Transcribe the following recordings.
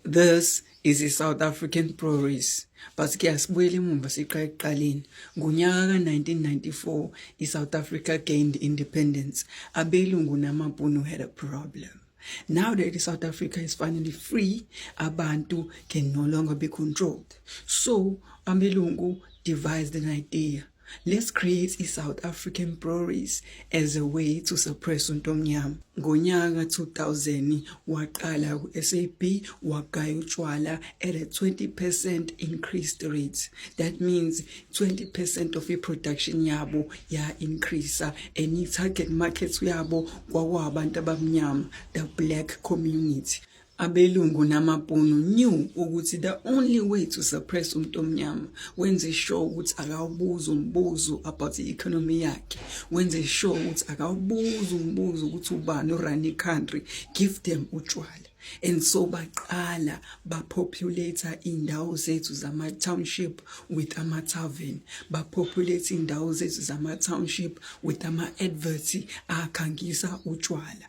This is i-South African Progress but ke asibuyele emumva siqale ekuqaleni ngonyaka ka-1994 i-South Africa gained independence abelungu namabhunu had a problem Now that South Africa is finally free, Abantu can no longer be controlled. So, Ambelungu devised an idea Let's create i-South African Breweries as a way to suppress untomnyama. Ngonyaka 2000 waqala ku-SAB wagaya utshwala at a 20% increased rate. That means 20% of i-production yabo ya-increasa and i-target market yabo kwakuwabantu abamnyama, the black community. abelungu namabhunu knew ukuthi the only way to suppress umuntu omnyama wenze sure ukuthi akawubuza umbuzo about i-economy yakhe wenze sure ukuthi akawubuza umbuzo ukuthi ubani urun i-country give them utshwala and so baqala bapopulate indawo zethu zama township with ama tavern bapopulate indawo zethu zama township with ama adverts akhangisa utshwala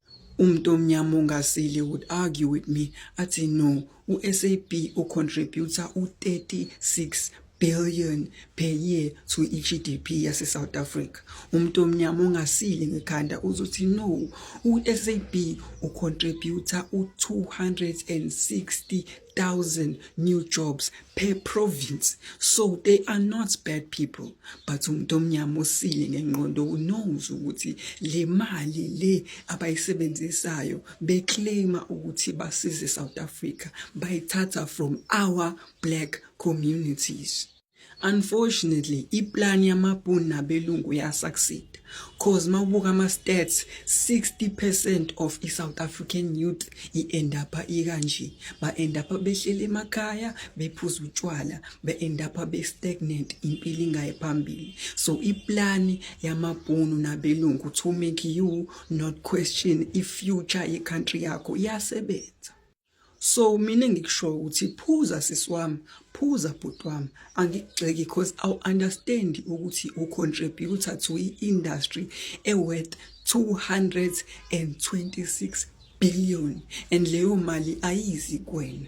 Umuntu omnyama ongasile would argue with me athi no uSAB ucontributor u36 billion per year to iGDP yase South Africa umuntu omnyama ongasile ngekhanda uzothi no uSAB ucontributor u260 thousand new jobs per province so they are not bad people but umuntu omnyama osile ngenqondo unows ukuthi le mali le abayisebenzisayo beclaima ukuthi basize South Africa bayithatha from our black communities Unfortunately, iplan yamabhunu nabelungu yasaksid cause mawubuka ama stats 60% of i South African youth i end up ikanje ba end up behlele emakhaya bephuza utshwala be end up be stagnant impilo ingaye phambili so iplan yamabhunu nabelungu to make you not question i future ye country yakho iyasebenza so mina ngikushoyo ukuthi phuza sisi wami phuza bhuti wami angikugxeki cause awu understand ukuthi u contributor to i industry e worth 226 billion and leyo mali ayizi kwena